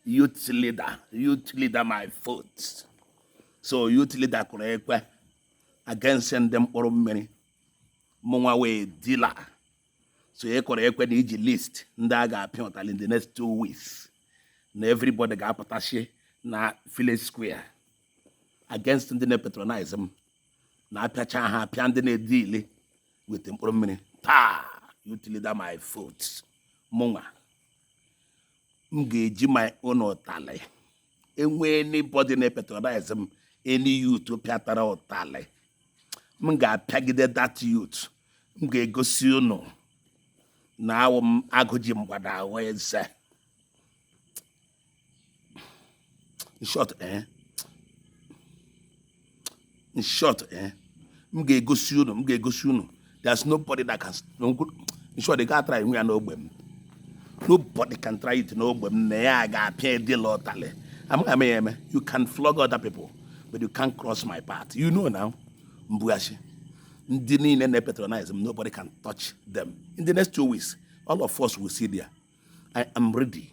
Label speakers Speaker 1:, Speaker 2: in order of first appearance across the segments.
Speaker 1: youth leader youth leader my foot so youth leader kụrụ ekwe against ndị mkpụrụ mmiri mụnwa wụ dealer so ị kụrụ ekwe na i ji list ndị a ga-apịa ụtalị in the next two weeks na everybody ga-apụtashị na village square against ndị na-epatronize m na a pịachaa ha a pịa ndị na-edili with mkpụrụ mmiri taa youth leader my foot mụnwa m ga-eji my own ụtalị e nwee anybody na-epatronize m any youth pịatara ụtalị m ga-apịagide that youth m ga-egosi unu na awụ m agụ ji mgbada awa eze in short eh in short eh m ga-egosi unu m ga-egosi unu there's nobody that can in short ị ga-atara ihu ya n'ogbe m nobody can try it n'ogbe m na ya ga-apịa dealer ụtalị amaghị m ya eme you can flog other people but you can't cross my path you know now mbughachi ndị niile na-epatronize m nobody can touch them in the next two weeks all of us will see there i am ready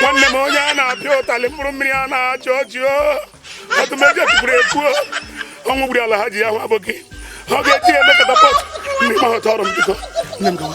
Speaker 2: nwanne m onye a na-apịa ụtalị mkpụrụ mmiri a na-achọ ọchị ọtụmeji ekwukwuru ekwu ọnwụ gburu ala ha ji ya hụ abụghị ọ ga-eji ya eme catapult ndị ma họta ọrụ m biko nne m gawa